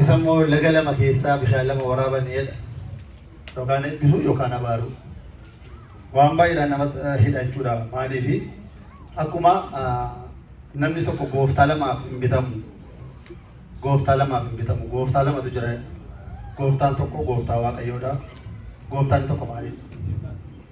Isa immoo laga lama keessaa bishaan lama waraaban jedha. Yookaan eebbisuu yookaan abaaruu. Waan baay'eedhaan nama hidha jechuudha. Maaliif akkuma namni tokko gooftaa lamaaf hin bitamu. Gooftaa lamaaf hin bitamu. Gooftaa lamatu jira. Gooftaan tokko gooftaa waaqayyoodha. Gooftaan tokko maalidha?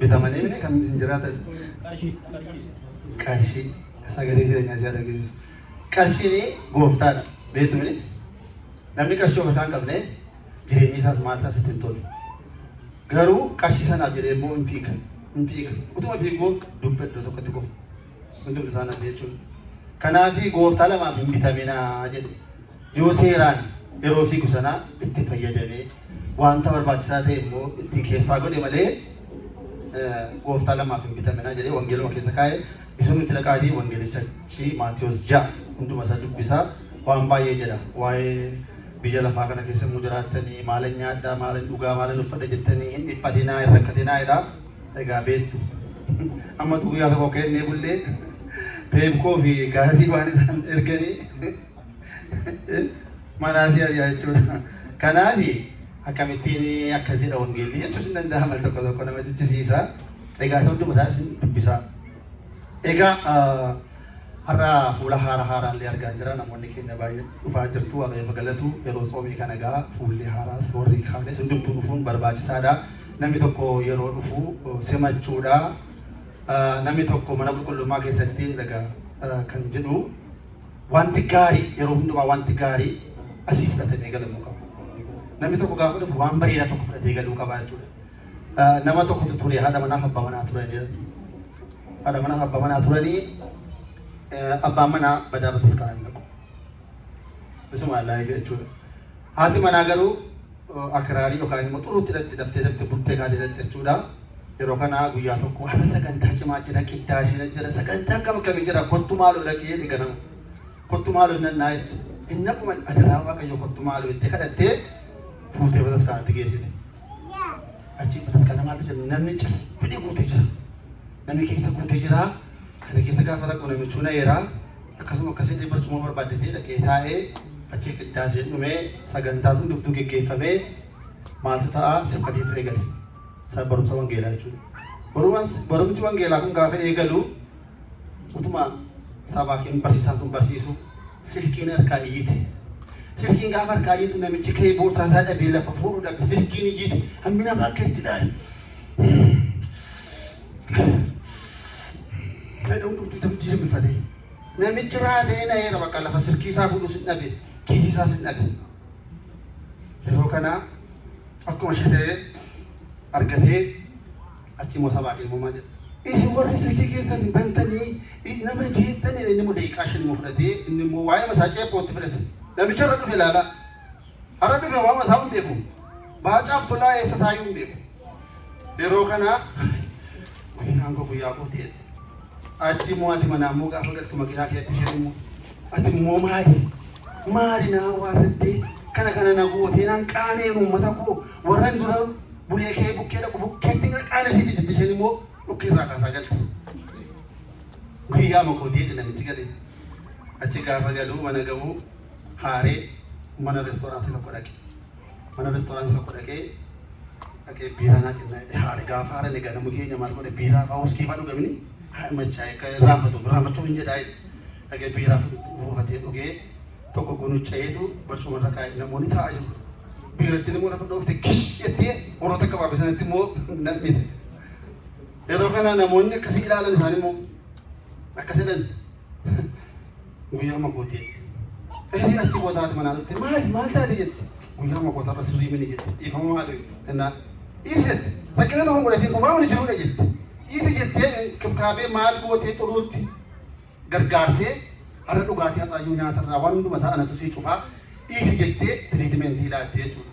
Bitamanii miti kan ittiin jiraatan. Qarshii. Sagalee jireenyaa siyaa dhageessisu. Qarshiin gooftaadha. Beektu miti. Namni qarshii of harkaa hin qabne jireenyi isaas maal isaas ittiin tolu. Garuu qarshii sanaaf jedhee immoo hin fiiga. Hin fiiga. Utuma fiiguu dugda iddoo tokkotti kufa. Hundumti isaan ati jechuun. Kanaafi gooftaa lamaaf hin bitaminaa jedhe. Yoo seeraan yeroo fiigu sanaa itti fayyadamee wanta barbaachisaa ta'e immoo itti keessaa godhe malee gooftaa lamaaf hin bitaminaa jedhee wangeeluma keessa kaa'e isin nuti dhaqaatii wangeelichachi Maatiyoos ja'a hunduma isaa dubbisaa waan baay'ee jedha waa'ee biyya lafaa kana keessa immoo jiraattanii maala nyaadhaa maala dhugaa maala uffadha jettanii hin dhiphatinaa hin rakkatinaa jedha. Egaa beektu. Amma utuu guyyaa tokko kennee bullee peepkoo fi gaasii waan isaan erganii manaa si ari'a jechuudha. Kanaaf akkamittiin akkas jedha wangeelli jechuus hin danda'amu tokko tokko nama jechisiisa. Egaa isa hunduma isaa isin dubbisaa. Egaa har'a fuula haara haaraan illee argaa jira namoonni keenya baay'ee dhufaa jirtu waaqayyo galatu yeroo tsoomii kana egaa fuulli haaraas warri kaanis hundumtuu dhufuun barbaachisaadha. Namni tokko yeroo dhufu simachuudha. Namni tokko mana qulqullummaa keessatti dhaga kan jedhu wanti gaarii yeroo hundumaa wanti gaarii asii fudhatamee galamuu qaba. Namni tokko gaafa dhufu waan bareedaa tokko fudhatee galuu qaba jechuudha. Nama tokkotu ture haadha manaaf abbaa manaa turanii haadha manaaf abbaa manaa turanii abbaan manaa badaa batas kanaan dhaqu. Isuma laayee jechuudha. Haati manaa garuu akiraarii yookaan immoo xuruutti dhaqxi daftee daftee bultee kaatee dhaqxi jechuudha. Yeroo kana guyyaa tokko har'a sagantaa cimaa jira qiddaasee jira sagantaa akkam akkamii jira kottu maaloo dhaqee jedhe ganama. Kottu maaloo nan naa jette. Inni akkuma adaraa waaqayyo kottu maaloo jettee kadhattee fuutee bataskaanatti geessite. Achi bataskaana maaltu jira namni caffinee guutee jira. Namni keessa guutee jira. Kana keessa gaafa rakkoo namichuu na eeraa. Akkasuma akka se'ee barcuma barbaadde ta'ee dhaqee taa'ee achii qiddaaseen dhumee sagantaan hundumtuu geggeeffamee maaltu ta'a sibkatiitu eegale. Isa barumsa wangeelaa jechuudha. Barumas- Barumsi wangeelaa kun gaafa eegalu utuma sabaakiin barsiisaan sun barsiisu silkiin harkaa iyyite. Silkiin gaafa harkaa iyyitu namichi ka'ee boorsaa isaa dhabee lafa fuudhuu dhabe silkiin iyyite hammi namaa akka itti ilaale. Fedha hundumtuu itti jijjiirmifatee. Namichi raatee na'eera bakka lafa silkii isaa fuudhu sin dhabe kiisii isaa sin dhabe. Yeroo kana akkuma ishee ta'ee argatee achi immoo sabaa ilmumaa jedha. Isin warri silkii keessan hin bantanii nama jeettanii inni immoo daqiiqaa shan immoo fudhatee inni immoo waa'ee masaa ceephootti fudhate. Namicha irra dhufe ilaalaa. Arabni gabaama isaa hin beeku. Baacaaf tolaa eessa isaayyuu hin beeku. Yeroo kana makinaan koo guyyaa kooti jedhe. Achi immoo ati manaa immoo gaafa galtu makinaa keetti isheen immoo ati immoo maali? Maali naa waarrattee kana kana na gootee naan qaaneen uummata koo warran dura bulee kee bukkee dhaqu bukkeetti na qaanesiiti jetti isheen immoo dhukkee irraa kaasaa galte. Guyyaa makooti jedhe namichi galee. Achi gaafa galuu mana gahuu haaree mana restoraantii tokko dhaqe. Mana restoraantii tokko dhaqee dhaqee biiraa naa kennaa jedhe haare gaafa haare ni ganamu keenya maal godhe biiraa faa uskii faa dhugamini haa machaa akka irraanfatu irraanfachuu hin jedhaa dhaqee biiraa buufatee dhugee tokko gunuccayeetu barcuma irra kaa'e namoonni taa'aa jiru. Biiratti immoo lafa dhoofte kish jettee warroota akka baabee sanatti immoo nam'ite. Yeroo kana namoonni akkasii ilaalan isaan immoo akkas jedhan guyyaa makooti Ergi achi booda haati manaa dhufte maali maal taate jette guyyaa makoota irra sirrii mini jette dhiifama maali jennaan dhiisi jette rakkina tokko godhatiin kumaa wani jiruudha jette dhiisi jettee kibkaabee maal gootee xuruutti gargaartee har'a dhugaatii har'aayyuu nyaata irraa waan hunduma isaa anatu sii cufaa dhiisi jettee tiriitimentii laattee jechuudha.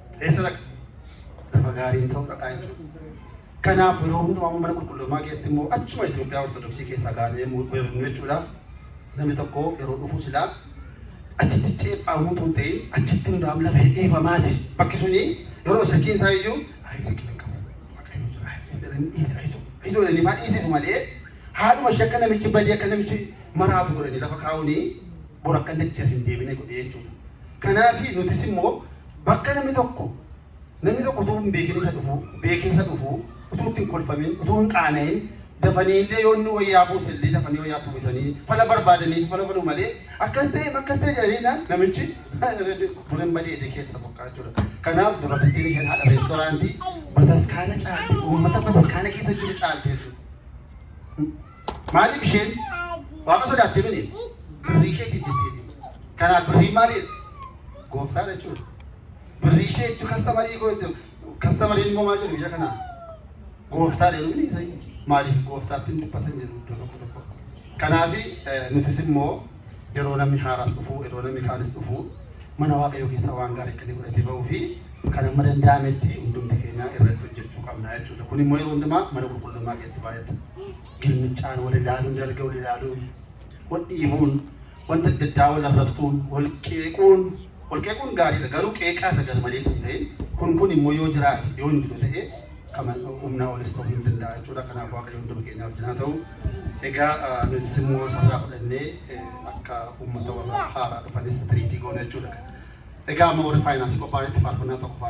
Eessa dhaqa? Lafa gaarii ta'uu dhaqaa jechuudha. Kanaaf yeroo hundumaa mana qulqullummaa keessatti immoo achuma Itoophiyaa Ortodoksii keessaa gaanee muudamnu jechuudha. Namni tokko yeroo dhufu silaa achitti ceephaamuu tun ta'in achitti hundaa'am lafa hedhiifamaati. Bakki suni yeroo shakkiin isaa iyyuu ayi shakkiin hin qabu. Waaqayyo jira. Ayi jedhanii dhiisa. Ayi sun. Ayi sun jedhanii faa dhiisisu malee haadhuma ishee akka namichi badee akka namichi maraatu godhanii lafa kaa'uuni bor akka dachee as hin deebine godhee jechuudha. Kanaaf nutis immoo Bakka namni tokko namni tokko utuu hin beekin isa dhufu, beekee isa dhufu, utuu itti hin kolfamin, utuu hin qaana'in, dafanii illee yoo inni wayyaa buuse illee dafanii wayyaa itti uwwisanii fala barbaadanii fala godhu malee akkas ta'e akkas ta'e jedhanii naan namichi duran badee ija keessa soqqaa jechuudha. Kanaaf dubartittiin isheen haadha reestoraantii bataskaana caalti uummata bataskaana keessa jiru caalti jechuudha. Maaliif isheen waaqa sodaatte mini birrii isheetiif jettee kanaaf birriin maaliidha? Gooftaadha jechuudha. Birrii ishee jechuun kastamarii koo jechuudha. Kastamariin immoo maal jedhu biyya kanaa? Gooftaadha jedhu mini isaanii. Maaliif gooftaatti hin dubbatan jedhu iddoo tokko tokko. Kanaaf nutis immoo yeroo namni haaraas dhufu yeroo namni kaanis dhufu mana waaqayyoo keessaa waan gaarii akka inni godhatee ba'uu fi kan hamma danda'ametti hundumti keenya irratti hojjechuu qabna jechuudha. Kun immoo yeroo hundumaa mana qulqullummaa keessatti baay'ata. Gilmichaan wal ilaaluun, dalga wal ilaaluun, wal dhiibuun, wanta adda addaa wal arrabsuun, wal qeequun, wal qeequun gaariidha. Garuu qeeqaa isa garmalee tun ta'in kun kun immoo yoo jiraate yoo hin jiru ta'e Kana humnaa olis ta'uu hin danda'a jechuudha. Kanaaf Waaqayyo hunduma keenyaa wajjin haa ta'u. Egaa nutis immoo sarara fudhannee akka uummata warra haaraa dhufanis tiriitii goona jechuudha. Egaa amma warri faayinaansii qophaa'anitti faarfannaa tokko faarfanna.